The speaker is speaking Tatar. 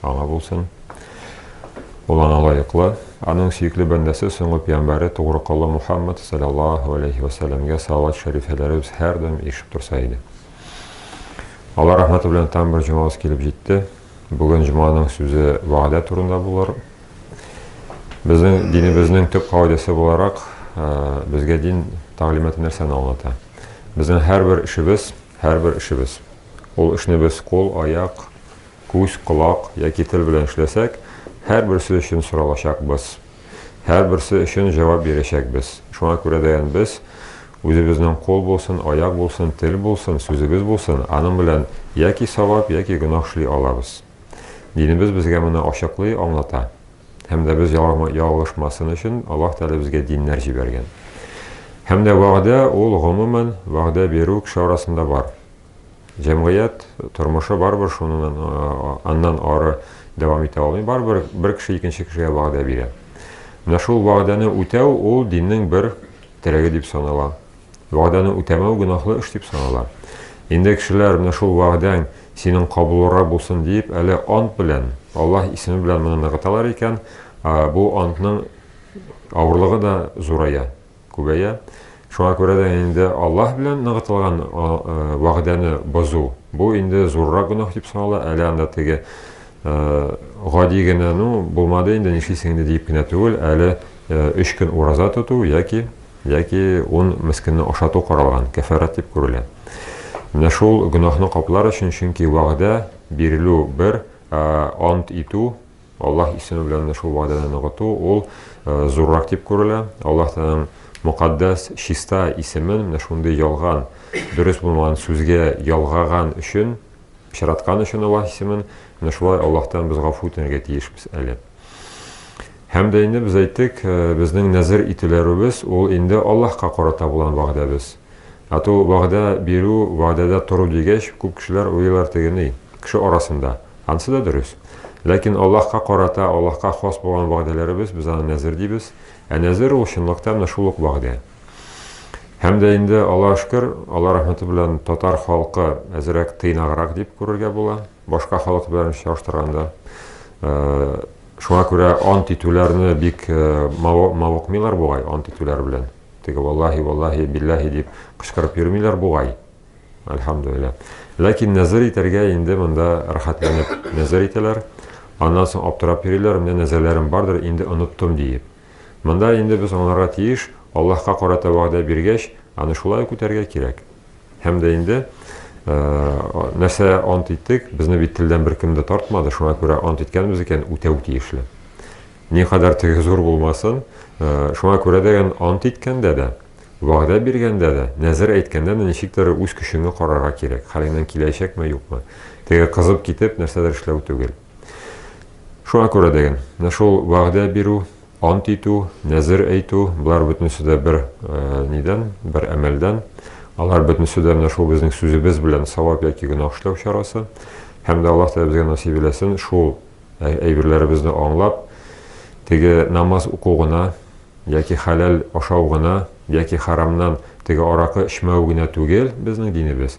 Аңа булсын. Ул аңа лаеклы. Аның сөекле бәндәсе, соңгы пиямбәре тугры колы Мухаммад, салләллаһу алейһи ва сәлләмгә салават шәрифәләре без һәрдаим ишетеп торса иде. Алла рәхмәте белән тагын бер җомабыз килеп җитте. Бүген җоманың сүзе вәгъдә турында булыр. Безнең динебезнең төп кагыйдәсе буларак, безгә дин тәгълиматы нәрсәне аңлата? Безнең һәрбер эшебез, һәрбер эшебез. Ул эшне без кул, аяк, күз, колак яки тел белән эшләсәк, һәрберсе өчен соралачакбыз, һәрберсе өчен җавап бирәчәкбез. Шуңа күрә дәян без, Үзебезнең кул булсын, аяк булсын, тел булсын, сүзебез булсын, аның белән яки савап, яки гөнаһ эшли алабыз. Динебез безгә моны ачыклый, аңлата. Һәм дә без ялгышмасын өчен Аллаһ Тәгалә безгә диннәр җибәргән. Һәм дә вәгъдә, ул, гомумән, вәгъдә бирү кеше арасында бар. Җәмгыять тормышы барыбер шуннан аннан ары дәвам итә алмый. Барыбер бер кеше икенче кешегә вәгъдә бирә. Менә шул вәгъдәне үтәү ул диннең бер терәге дип санала. Вәгъдәне үтәмәү гөнаһлы эш дип санала. Инде кешеләр менә шул вәгъдәң синең кабулрак булсын дип, әле ант белән, Аллаһ исеме белән моны ныгыталар икән, бу антның авырлыгы да зурая. күбәя. Шуңа күрә дә инде Аллаһ белән ныгытылган вәгъдәне бозу, бу инде зуррак гөнаһ дип санала, әле анда теге гади генә, ну, булмады инде, нишлисең инде диеп кенә түгел, әле өч көн ураза тоту яки яки ун мескенне ашату каралган, кәфәрәт дип күрелә. Менә шул гөнаһны каплар өчен, чөнки вәгъдә бирелү бер, ә ант итү Аллаһ исеме белән дә шул вәгъдәне ныгыту, ул зуррак дип күрелә. Аллаһ Тәгаләнең мөкатдәс, чиста исемен менә шундый ялган, дөрес булмаган сүзгә ялгаган өчен, пычраткан өчен Аллаһ исемен, менә шулай Аллаһтан без гафу үтенергә тиешбез әле. Һәм дә инде без әйттек, безнең нәзер ителәребез, ул инде Аллаһка карата булган вәгъдәбез. Ату, вәгъдә бирү, вәгъдәдә тору дигәч, күп кешеләр уйлыйлар тегене, кеше арасында. Анысы да дөрес. Ләкин Аллаһка карата, Аллаһка хас булган вәгъдәләребез, без аны нәзер дибез. Ә нәзер ул, чынлыкта, менә шул ук вәгъдә. Һәм дә инде, Аллаһ шөкер, Алла рәхмәте белән татар халкы әзрәк тыйнаграк дип күрергә була, башка халык белән чагыштырганда. Шуңа күрә ант итүләрне бик мавыкмыйлар бугай, ант итүләр белән. Теге валлаһи, валлаһи, биллаһи дип кычкырып йөрмиләр бугай. Әлхәмдулилла. Ләкин нәзер итәргә инде монда рәхәтләнеп нәзер итәләр. Аннан соң аптырап йөриләр, менә нәзерләрем бардыр, инде оныттым диеп. Монда инде без аңларга тиеш, Аллаһка карата вәгъдә биргәч, аны шулай ук үтәргә кирәк. Һәм дә инде нәрсә ант иттек, безне бит телдән беркем дә тартмады, шуңа күрә ант иткәнбез икән, үтәү тиешле. Никадәр теге зур булмасын, шуңа күрә дә ант иткәндә дә, вәгъдә биргәндә дә, нәзер әйткәндә дә ничектер үз көчеңне карарга кирәк, хәлеңнән киләчәкме, юкмы. Теге кызып китеп, нәрсәдер эшләү түгел. Шуңа күрә дә менә шул вәгъдә бирү, Ант итү, нәзер әйтү, болар бөтенесе дә бер нидән, бер әмәлдән. Алар бөтенесе дә менә шул безнең сүзебез белән савап яки гөнаһ эшләү чарасы. Һәм дә Аллаһ Тәгалә безгә насыйп иләсен шул әйберләребезне аңлап, теге намаз уку гына яки хәләл ашау гына яки харамнан теге аракы эчмәү генә түгел безнең динебез,